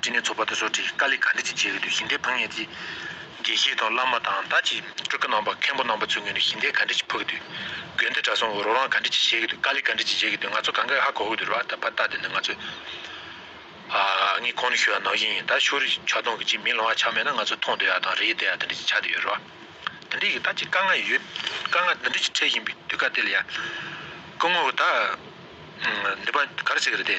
དྲི་ནི་ཚོགས་པ་དེ་ཚོ་དྲི་དཀར་ལི་ག་འདྲི་ཅི་བྱེད་ཀྱི་འདུག་ཞིང་སྡེ་ཕངས་ངེས་ཀྱི། དགེ་བཤེས་དང་བླ་མ་དང་ད་ཅི་སྤྲུལ་སྐུ་རྣམ་པ་མཁན་པོ་རྣམ་པ་ཚོའི་ངོས་ནས་ཞིང་སྡེ་ག་འདྲི་ཅི་ཕོག་གི་འདུག་དགོན་སྡེ་གྲྭ་ཚང་འོ་རོག་རང་ག་འདྲི་ཅི་བྱེད་ཀྱི་འདུག་དཀར་ལི་ག་འདྲི་ཅི་བྱེད་ཀྱི་འདུག་ང་ཚོ་གང་ག་ཧ་གོ་གི་འདུག་ར་བ་ད་དེ་འདི་ང་ཚོས་ཨ་ངས་གོང་ནས་ཤོད་ཡ་ནང་བཞིན་ཡིན་ད་ཤོ་རི་ཆ་སྟོང་གི་ཅི་མི་ལང་བ་ཆ་མེད་ན་ང་ཚོས་མཐོང་བསྡད་ཡ་དང་རེ་བསྡད་ཡ་འདི་འདྲི་ཅི་བྱ་འདི་ཡོད་ར་བ་འདི་འདྲི་གི་ད་ཅི་དཀའ་ངལ་ཡོད་དཀའ་ངལ་འདི་འདྲི་ཅི་འཕྲད་བཞིན་པའི་དུས་སྐབས་དེ་ལ་ཡ་སྐུ་ངོ་བོ་ད་འདི་པ་ག་རེ་བྱེད་ཀྱི་རེད་དེ།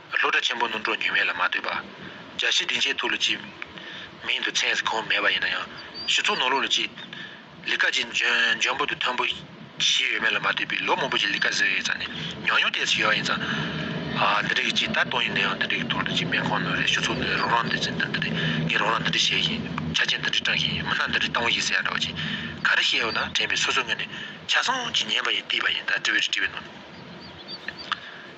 ལྷོ་བྲག་ཆེན་པོ་སྣུམ་གྲོག་ཉུལ་མེད་ལ་མ་ལྟོས་པར། རྒྱ་བཤད་སྡིངས་ཆའི་ཐུགས་ལ་བཅིབས། མིང་དུ་མཚན་གང་མེད་པ་ཡིན་ན་ཡང། ཞི་ཚུགས་ནོར་ལུག་ལ་བཅིབས། ལི་ཀ་ཅིག་འཇོན་པོ་དུ་མཐོན་པོ། ཞིག་ཡོད་མེད་ལ་མ་ལྟོས་པའི་ལོ་མང་པོ་ཞིག་ལི་ཀ་ཟེར་ཡོད་ཙང་ནས་ཉག་ཉུང་ལྟས་སུ་ཡོད་ཡིན་ཙང། འདི་འདྲ་གི་ཅིག་ད་དུང་ཡིན་ན་ཡང་འདི་འདྲ་གི་ཐུགས་ལ་བཅིབས་མེད་ཁོ་ནོར་རེད་ཞུ་ཚུགས་ནོར་རེད་རང་རང་འདི་བྱེད་འདི་འདི་རེད་ངས་རང་རང་འདི་འདྲ་བྱས་ཤིང། ཆ་རྐྱེན་འདི་འདྲ་སྐྲངས་ཤིང་མི་སྣ་འདི་འདྲའི་སྟངས་བུ་ཞིག་ཟེར་ཡག་འདྲ་བ་ཅིག་ག་རེ་བཤད་འོས་ན་དྲན་པའི་སོ་སོའི་ངོས་ནས་ཆ་ཚང་གཅིག་ཉན་པ་ཡིན་བལྟས་པ་ཡིན་ད་དྲི་བའི་དྲི་བའི་ནོར།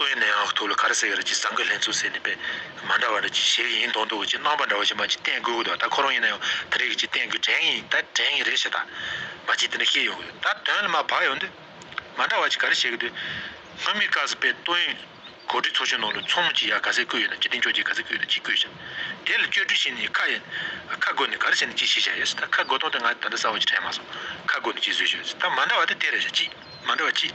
སྟོད་ནས་ཨག་ཐུག་ལ་གར་སེ་གར་གྱི་ཟངས་ཀྱི་ལྷན་ཚུགས་ཟེར་ནས་པད་མ་འདྲ་བ་འདྲ་གྱི་ཞེས་ཡིན་མདོག་མདོག་གིས་ཅི་སྣང་བ་འདྲ་བ་ཞིག་མ་གཅིག་བསྟན་དགོས་ཀྱི་འདུག་ད་ཁོ་རང་ཡིན་ན་ཡང་ད་རེས་ཀྱི་ཅིག་བསྟན་དགོས་དྲན་ངེས་ཡིན་ད་དྲན་ངེས་རེད་ཞེས་ད་མ་གཅིག་དེ་འདྲ་ཤེས་ཡོང་གི་འདུག་ད་དོན་ལ་མ་བབས་ཡོང་དུས། མ་འདྲ་བ་ཅིག་ག་རེ་བྱེད་ཀྱི་འདུག་སྔོན་མི་ཀ་སི་པས་སྟོད་ཡོན་གོ་སྒྲིག་ཚོགས་ཆུང་ནང་ལ་ཚོགས་མི་གཅིག་ཡར་ག་ཟེར་བསྐོས་ཡོད་ན་གཅིག་དེང་ཕྱོགས་ཀྱིས་ག་ཟེར་བསྐོས་ཡོད་ན་གཅིག་བསྐོས་བྱ། དེ་ལ་བཅོས་སྒྲིག་བྱས་ནས་ཁ་ཡིན་ཁ་བསྐོས་ནས་ག་རེ་བྱས་ནས་གཅིག་བྱེད་བྱ་ཡོད་སྲིད་ད་ཁ་བསྐོས་སྟངས་དེ་ང་ད་ལྟ་གསལ་བོ་ཅིག་དྲན་མ་སོང་ཁ་བསྐོས་ནས་གཅིག་བཟོས་བྱ་ཡོད་སྲིད་ད་མ་འདྲ་བ་དེ་དེ་རེད་བྱ་གཅིག་མ་འདྲ་བ་གཅིག།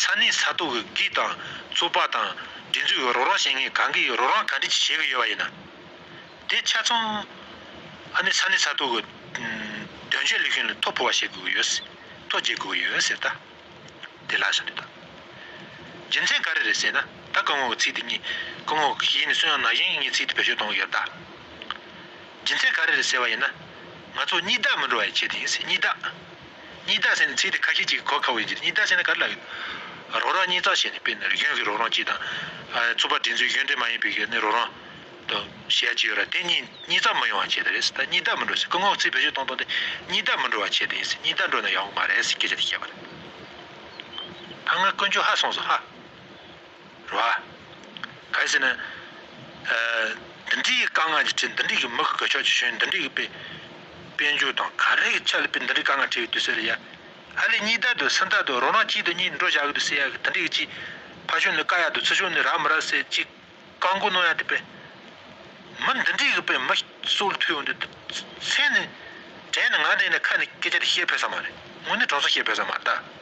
ས་གནས་ས་ཐོག་གི་སྒིག་དང་རྩོད་པ་དང་སྒྲིག་འཛུགས་ཀྱི་རོགས་རམ་བྱེད་མཁན་གང་གིས་རོགས་རམ་ག་འདྲི་བྱེད་ཀྱི་ཡོད་པ་ཡིན་ན། དེ་ཆ་ཚང་ཨ་ནི་ས་གནས་ས་ཐོག་གི་དོན་གཅོད་ལས་ཁུངས་ལ་ཐོ་འཕུལ་བ་བྱེད་དགོས་ཀྱི་ཡོད། ཐོ་བརྗེ་དགོས་ཀྱི་ཡོད་ཟེར་ད། དེ་ལགས་སོ་ནི་ད། རྒྱུ་མཚན་ག་རེ་རེད་ཟེར་ན་ད་སྐུ་ངོ་གི་ཚིག་དེ་གཉིས་སྐུ་ངོ་གཞན་ནས་གསུངས་ཡོང་ན་གཞན་གཉིས་ཚིག་དེ་བེད་སྤྱོད་གཏོང་གི་ཡོད་ད། རྒྱུ་མཚན་ག་རེ་རེད་ཟེར་བ་ཡིན་ན། ང་ཚོ་གཉིས་བདག་མི་འགྲོ་བ་ཡི་ཆེད་དུ་ཡིན་སྲིད་གཉིས་བདག། གཉིས་རྟགས་ཟེར་ནི་ཚིག་དེ་ཁ་ཤས་ཅིག་གི་གོ་ཁ་བའི་རྗེས་གཉིས་རྟགས་ཟེར་ན་ག་རེ་ལ་ཡོད། རོགས་རམ་གཉིས་རྩ་ཞེས་ནི་དཔེར་ན་རིག་གཞུང་གི་རོགས་རམ་གཅིག་དང། ཚོགས་པ་འབྲེལ་མཛོད་གཞུང་འབྲེལ་མ་ཡིན་པའི་ནི་རོགས་རམ། དང། ཞེས་གཅིག་ཡོད་ར་དེ་གཉིས་གཉིས་རྩ་མི་ཡོང་བ་བྱས་ཏེ་རེད། ད་གཉིས་རྟགས་མི་འགྲོ་ཟེར་སྐུ་ངོ་ཚིག་བེད་སྤྱོད་གཏོང་གཏོང་སྟེ་གཉིས་རྟགས་མི་འགྲོ་བ་བྱས་ཏེ་ཡིན་སྲིད་གཉིས་རྟགས་འགྲོ་ན་ཡག་པོ་མ་རེད་ཟེར་སྐད་ཆ་དེ་བཤད་པ་རེད། ད་སྔར་དཀོན་མཆོག་ཧ་སོང་སོང་ཧ། ར། གལ་སྲིད་ན། འདི་འདྲི་ཡི་དཀའ་ངལ་གྱི་ཁྲིད་འདི་འདྲི་གི་མི་གོ་ཆོག་ཆེ་ཤོས་འདི་འདྲི་གི་པེ། པེ་མཇུག་དང་ག་རེ་གི་ཆ་ལ་པེ་འདི་འདྲི་དཀའ་ངལ་ཁྲིད་ཡོད་དུ་སེ་ར་ཡ། ཧ་ལས་གཉིས་ད་དུ་སེ་ད་དུ་རོ་ནག་གཅིག་དུ་གཉིས་འགྲོ་བྱ་གི་དུ་སེ་ཡ་གི་འདི་འདྲི་གི་ཅི། ཕ་ཤུན་ནི་ཀ་ཡ་དུ་ཚུ་ཤུན་ནི་ར་མི་ར་སེ་གཅིག། ཀ་མགོ་ནོ་ཡ་དི་པེ། མི་འདི་འདྲི་གི་པེ་མི་སོལ་ཐུ་ཡོང་དུ་དུ་སེ་ནི། དྲན་ནི་ང་དེ་ནི་ཁ་ནི་ཀེ་ཅ་དི་ཤེས་ཕོད་ས་མ་རེད་ངུ་ནི་གྲོང་ཚོ་ཤེས་ཕོད་ས་མ་རེད་ད།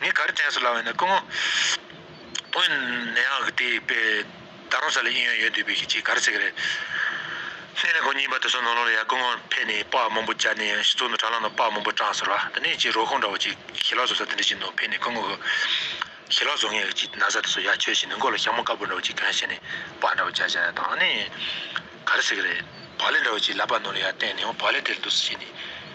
ངས་ག་རེ་དྲན་སོང་ལབ་བས་ན་སྐུ་ངོ། བོད་ནད་ཡག་གི་དེ་པའི་ད་རུང་ས་ལ་ཨིན་ཡོད་ཡོད་འདུག་པའི་ཁྱེད་ཀྱིས་ག་རེ་ཟེར་གི་རེད། ལྷས་ནས་གོ་ཉིན་པ་དེ་ཚོ་ནོར་ལོང་ལ་ཡར་སྐུ་ངོ་ཕེབས་ནས་པགས་མང་པོ་སྦྱར་ནས་ཡང་ཞིག་བཙུགས་ན་དྲ་ལམ་ན་པགས་མང་པོ་སྐྲངས་ཟེར་བ་དེ་ནས་ཀྱི་རོ་ཁུང་འདྲ་བོ་ཅིག་ཞི་ལག་བཟོ་ས་དེ་འདྲ་ཞིག་ནོར་ཕེབས་ནས་སྐུ་ངོ་གིས་ཞི་ལག་བཟོ་མཁན་གྱི་ན་བཟའ་དེ་ཚོ་ཡར་འཁྱོལ་བྱས་ནས་མགོ་ལ་ཞྭ་མོ་དཀར་པོ་འདྲ་བོ་ཅིག་གྱོན་བྱས་ནས་པགས་འདྲ་བོ་སྦྱར་བྱས་དང་ནི་ག་རེ་ཟེར་གི་རེད། བག་ལེབ་འདྲ་བོ་ཅིག་ལབ་པ་ནོར་ལ་ཡར་བསྟན་ནས་འོ་བག་ལེབ་དེ་ལ་འདུག་ཟེར་བྱས་ནས།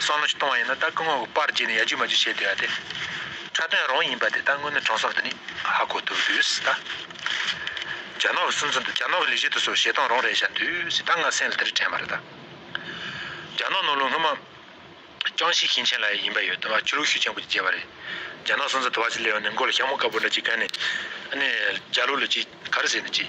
སང་ལོ་ཞིག་གཏོང་བ་ཡིན་ན་ད་སྐུ་ངོ་གི་པར་བརྒྱུད་ནས་ཡ་རྒྱུ་མ་རྒྱུ་བྱེད་བསྡོད་ཡ་དེ། འཁྲབ་སྟོན་རང་ཡིན་པ་དེ་ད་དངོས་གནས་གྲོང་སོག་འདི་ནི་ཧ་གོ་ཐུབ་དུས་ད། རྒྱ་ནག་གི་སུམ་ཚོད་འདི་རྒྱ་ནག་གི་ལས་གཞི་དུ་སོགས་བྱེད་སྟངས་རང་རེད་བྱ་དུས་ད་ང་སེམས་ལ་དེ་རིགས་དྲན་པ་རེད་ད། རྒྱ་ནག་ནང་ལོ་སྔོན་མ། ཅང་ཤིས་ཞིང་ཆེན་ལ་ཡིན་པ་ཡོད་དུས་ཆུ་ལུག་ཤུགས་ཆེན་པོ་ཅིག་རྒྱས་པ་རེད། རྒྱ་ནག་སུམ་ཚོད་དུ་བ་ཅིག་སླེབས་ནས་མགོ་ལ་ཤ་མོ་དཀར་པོ་འདྲ་ཅིག་བཀལ་ནས། ཨ་ནི་རྒྱ་ལུག་ལ་ཅིག་ག་རེ་ཟེར་ནས་ཅིག།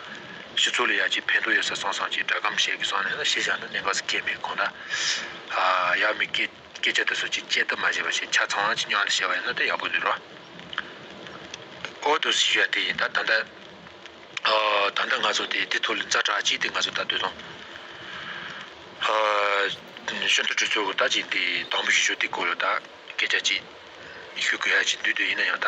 སྤྱི་ཚོགས་ལ་ཡར་རྒྱས་ཕན་ཐོགས་ཡོད་ས་གསུངས་སོང་ཅེས་སྒྲ་སྒམ་ཞིག་གིས་སོང་ནས་ཤེས་བཞག་ནི་གནད་འགག་ཅིག་སྐྱེས་མེད་ཁོ་ན། ཡང་མི་སྐད་སྐད་ཆ་དེ་ཚོ་ཅིག་སྐྱེལ་ཐབས་མ་བྱས་པ་ཞིག་ཆ་ཚང་ཅིག་ཉོ་ལ་བཤད་པ་ཡིན་ན་ད་ཡག་པོ་འདུག་རོགས། ཨོ་དོ་སྲིད་ཞུ་ཡ་དེ་ཡིན་ད་ད་འདི། ད་ད་ང་ཚོ་དེ་དེ་ཐོག་ལ་འཛའ་དྲག་ཅིག་དེ་ང་ཚོ་ད་སྡོད་དང། ཤོན་ཏུ་གྲོས་ཚོགས་ཀྱི་ད་ཅིག་དེ་དང་པོ་ཞུ་ཞོ་དེ་སྐོར་ལ་ད་སྐད་ཆ་ཅིག། ཞུ་དགོས་ཡ་ཅིག་འདུག་འདོད་ཡིན་ན་ཡང་ད།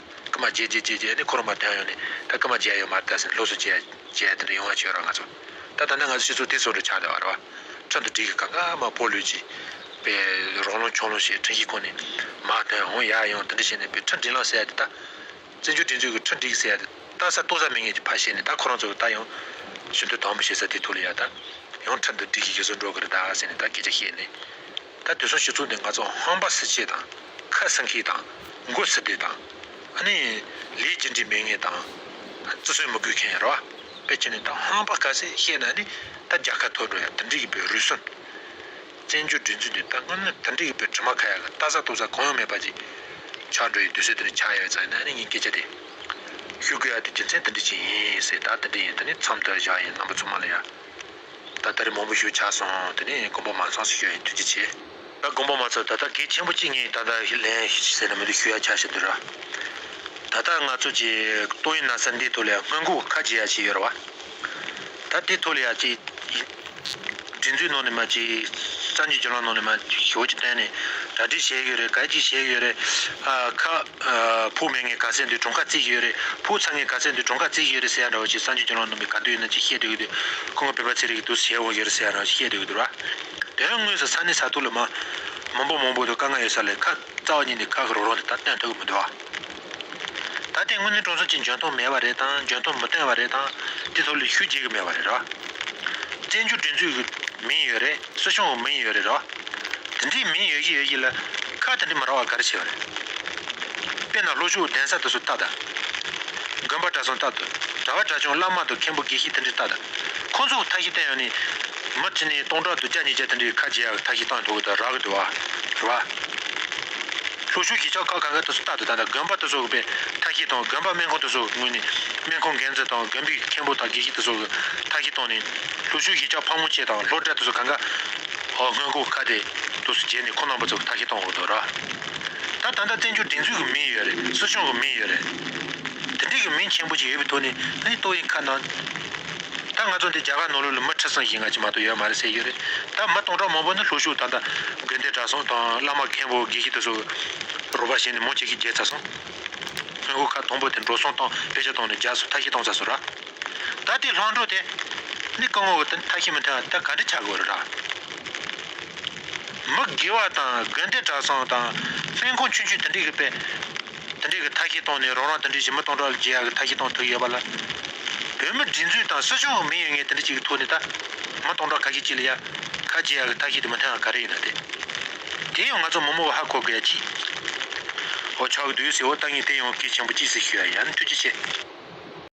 ཀུ་མ་རྗེས་རྗེས་རྗེས་རྗེས་ནས་ཁོ་རང་མར་དོན་ཡོང་ནས་ད་ཀུ་མ་རྗེས་ཡོང་མར་ད་ཟེར་ལོགས་སུ་རྗེས་རྗེས་དེར་ཡོང་བ་བྱོས་རོགས་ང་ཚོ་ད་ད་ནི་ང་ཚོ་སྤྱི་ཚོགས་དེ་ཚོ་རུ་ཆགས་བསྡད་བ་རེད་བ་ཁྲོན་དུ་འགྲིག་གི་གང་གང་མ་པོ་ལུས་ཀྱི་པའི་རོགས་ལོང་ཆོག་ལོང་ཞེས་ཁྲིན་ཞིས་ཁོ་ནས་མར་དོན་ཡོང་ཡ་ཡོང་དེ་འདྲ་བྱས་ནས་པའི་ཁྲིན་འགྲིག་ལང་ཟེར་ཡ་དེ་ད་བཙན་བྱོལ་སྒྲིག་འཛུགས་ཀྱི་ཁྲིན་འགྲིག་ཟེར་ཡ་དེ་ད་ས་གཏོགས་ས་མི་ངན་གྱི་ཕ་བཤད་ནས་ད་ཁོ་རང་ཚོ་ད་ཡང་ཞུ་འདོད་དང་པོ་བྱེད་ས་དེ་ཐུགས་ལ་ཡ་ད་ཡང་ཁྲིན་དུ་འགྲིག་གི་གེ་སོ་འགྲོ་གི་རེད་ད་ཟེར་ནས་ད་སྐད་ཆ་བཤད་ནས། ད་དུས་སོགས་ཞིག་བཙུགས་ཏེ་ང་ཚོ་ཧང་པ་སེ་བྱེད་དང་ཁ་སང་ཁིག་དང་མགོ་སེ་བདེ་དང། ཨ་ནི། ལས་རྒྱུ་འབྲས་མེད་ངེས་དང། བརྩི་སྲོལ་མི་དགོས་མཁན་ཡར་བ། པའི་ཁྱོན་ནས་ད་ཧང་པ་ཁ་སེ་བཤད་ན་ནི་ད་རྒྱ་ཁ་ཐོ་འགྲོ་ཡ་དིལ་འགྲིག་གི་བོད་རུས་སོན། བཙན་བྱོལ་སྒྲིག་འཛུགས་འདི་ད་སྔོན་མོ་དིལ་འགྲིག་གི་བོད་དྲི་མ་ཁ་ཡ་ལ་ལྟ་ས་རྟོག་ས་གང་ཡང་མེད་པ་ཅིག་ཆགས་འགྲོ་ཡི་དུས་ཚོད་དེ་ནས་ཆགས་ཡ་བའི་ཙང་ཡིན་ན་ནི་ངའི་སྐད་ཆ་དེ་ཤུ་དགོས་ཡ་དེ་རྒྱུ་མཚན་དིལ་འགྲིག་ཅིག་ཡིན་ཟེར་ད་དིལ་འགྲིག་ཡིན་ད་ནི་མཚམས་ལྟོས་བཞག་ཡིན་རྣམ་པ་ཚོ་མ་ལ་ཡ། ད་ལྟ་རི་མང་པོ་ཞུ་ཆགས་སོང་དེ་ནས་དགོན་པ་མང་ཚོགས་སུ་ཞུ་ཡིན་ཐུགས་རྗེ་ཆེ། ད་དགོན་པ་མ་ཚོགས་ད་ལྟ་གེགས་ཆེན་པོ་གཅིག་ངས་ད་ལྟ་ཧི་ལན་ཟེར་ན་མི་འདུག་ཞུ་ཡ་ཆགས་ཞེ་འདོད་ར། ད་ལྟ་ང་ཚོ་ཀྱི་ཏོག་དབྱིན་ན་སར་འདི་ཐོག་ལ་ཡང་སྔོན་འགོག་ཁ་འབྱེད་ཡ་བྱས་ཡོད་ར་བ། ད་དེ་ཐོག་ལ་ཡ་ཀྱི་སྒྲིག་འཛུགས་ནང་ནས་མ་ཀྱི་གསར་འགྱུར་བྱེད་ལམ་ནང་ནས་མ་ཞི་བོ་ཀྱི་སྟེང་ནས་གྲ་སྒྲིག་བྱས་ཡོད་རེད་ག་ཅིག་བྱས་ཡོད་རེད་ཨ་ཁ། ཕུག་མེད་ངའི་ག་ཚད་འདི་གྲོང་ཁ་རྩིས་ཀྱི་ཡོད་རེད་ཕུག་ཚ་ངའི་ག་ཚད་འདི་གྲོང་ཁ་རྩིས་ཀྱི་ཡོད་རེད་ཟེར་ཡ་འདྲ་བ་ཅིག་སངས་རྒྱས་རྒྱུ་ནོར་ནང་པའི་ག་དུས་ཡིན་ནམ་ཅིག་བཤད་འགྲོ་གི་འདུག་ཁོང་གི་བོད་པ་ཚེ་རིང་གི་དུས་སུ་བྱས་འོང་གི་ཡོད་རེད་ཟེར་ཡ་འདྲ་བ་ཅིག་བཤད་འདོད་ཀྱི་འདུག་ར། དེ་ཡང་དངོས་སུ་ས་གནས་ས་ཐུག་ལ་མ། མང་པོ་མང་པོ་འདུག་དཀའ་ངལ་ཡོད་ས་ལས་ཁ། རྩ་བ་ཉིད་ནས་ཁག་གི་རོགས་རོགས་འདི་ད་སྟོན་ཐུབ་ཀྱི་མི་འདུག་ཨ། ད་ལྟའི་དངོས་གནས་གྲོང་ཚོ་གཅིག་འཇོན་ཐང་མེད་པ་རེད་དང་འཇོན་ཐང་མི་བརྟན་བ་རེད་དང། དེ་ཐོག་ལས་ཞུགས་བྱེད་ཀྱི་མེད་པ་རེད་ར། བཙན་བྱོལ་སྒྲིག་འཛུགས་ཀྱི། མིང་ཡོད་རེད། སུ་བྱུང་བ་མིན་ཡོད་རེད་རོ། དེ་འདྲའི་མིན་ཡོད་ཀྱི་ཡོད་ཀྱི་ལ། ཁ་དེ་འདྲ་མ་རག་བ་ག་རེ་བྱས་པ་རེད། དཔེར་ན་ལྷོ་ཕྱོགས་གདན་ས་དུ་སུ་བཏགས་དང། དགོན་པ་གྲྭ་ཚང་བཏགས་དུ་གྲྭ་བ་གྲྭ་ཆུང་བླ་མ་དུ་མཁན་པོ་དགེ་བཤེས་དེ་འདྲས་བཏགས་དང། ཁོ་ཚོ་བོ་ཐ་ཤི་བསྟན་ཡོང་ནི། མི་དེ་ནས་སྟོང་ཕྲག་དུ་བརྒྱ་ཉིས་བརྒྱ་དེ་འདྲས་ཁ་འབྱེད་ཡག་ཐ་ཤི་བཏང་འགྲོ་གི་དང་རག་གི་འདུག་བ། རེད་བ། ལྷོ་ཕྱོགས་ཀྱི་ཆ་ཁག་ག་ག་དུ་སུ་བཏགས་དུ་དང་དང་དགོན་པ་དུ་སོག་པས་ཐ་ཤི་བཏང་དགོན་པ་སྨན་ཁང་དུ་སོག་ངོས་ནས་སྨན་ཁང་འགན་འཛིན་དང་དགོན་པའི་མཁན་པོ་དང་དགེ་བཤེས་དུ་སོག་གི་ཐ་ཤི་བཏང་ནི། ལྷོ་ཆུ་ཡི་ལྕགས་ཕག་མོ་བཅས་དང་ལྷོ་བྲག་ཏུ་སོ་གང་ག་འོག་སྔོན་འགོག་ཁ་དེ་དུ་སོ་བརྗེས་ནས་ཁོ་ནང་པ་ཚོ་ཁ་ཤས་གཏོང་དགོས་འདུག་ར་ད་ད་ལྟ་བཙན་བྱོལ་སྒྲིག་འཛུགས་ཀྱི་མིང་ཡོད་རེད་སྲིད་གཞུང་གི་མིང་ཡོད་རེད་དེ་འདྲས་ཀྱི་མིང་ཆེན་པོ་ཅིག་ཡོད་པའི་ཐོག་ནས་ལྷ་ཡི་ཏོག་ཡིན་ཁ་ནང་ད་ང་ཚོ་འདི་རྒྱ་གར་ནོར་ལུག་ལ་མི་ཁྲི་སྲིང་ཞིག་ང་ཅིག་མ་གཏོགས་ཡོད་མ་རེད་ཟེར་ཡོད་རེད་ད་མི་སྟོང་ཕྲག་མང་པོ་ནི་ལྷོ་ཕྱོགས་ད་ད་དགོན་སྡེ་གྲྭ་སོང་དང་བླ་མ་མཁན་པོ་དགེ་བཤེས་དུ་སོ་རུ་བ་ཞེས་ནས་མོ་ཅིག་གིས་བརྒྱལ་ཚར་སོང་སྔོན་འགོག་ཁ་དང་པོ་དེ་འགྲོ་སོང་དང་བེད་སྤྱད་གཏོང་ནས་རྒྱ་སོ་ཐ་ཤི་གཏོང་ཚར་སོང་ར། ད་དེའི་ལྷག་འཕྲོ་དེ། ནི་སྐུ་ངོ་བོ་དང་མཐའ་ཤིན་མི་འཕྲད་པ་དེ་ག་འདྲི་བྱ་དགོས་ར། མི་དགེ་བ་དང་དགེ་འདུན་གྲྭ་ཚང་དང། ཚན་ཁོངས་ཆུང་ཆུང་དེ་འདྲས་ཀྱི་པས། དེ་འདྲས་ཀྱི་མཐའ་ཤིན་སྟོང་ནས་རང་རང་དེ་འདྲས་ཀྱི་མི་སྟོང་ཕྲག་བརྒྱད་ཡ་གྱི་མཐའ་ཤིན་སྟོང་ཐུག་ཡོད་པ་ལ། བོད་མི་སྒྲིག་འཛུགས་དང་སྲིད་གཞུང་གི་མི་ཡོད་ངེས་དེ་འདྲས་ཀྱི་གི་ཐུག་ནས་ད། མི་སྟོང་ཕྲག་ཁ་ཤིན་གཅིག་ལ་ཡ། ཁ་བརྒྱད་ཡ་གྱི་མཐའ་ཤིན་དེ་མི་མཐུན་ཡང་ག་རེ་ཡིན་ན་དེ། དེ་ཡང་ང་ཚོ་མི་མོ་བ་ཧ་གོ་དགོས་ཡ་གཅིག། ཨོ་ཆོག་གི་འདུག་ཟེར་བ་ལྟ་ངེས་དེ་ཡང་གལ་ཆེན་པོ་གཅིག་ཟེར་ཞུ་ཡ་ཡ་ནི་ཐུགས་རྗེ་ཆེ།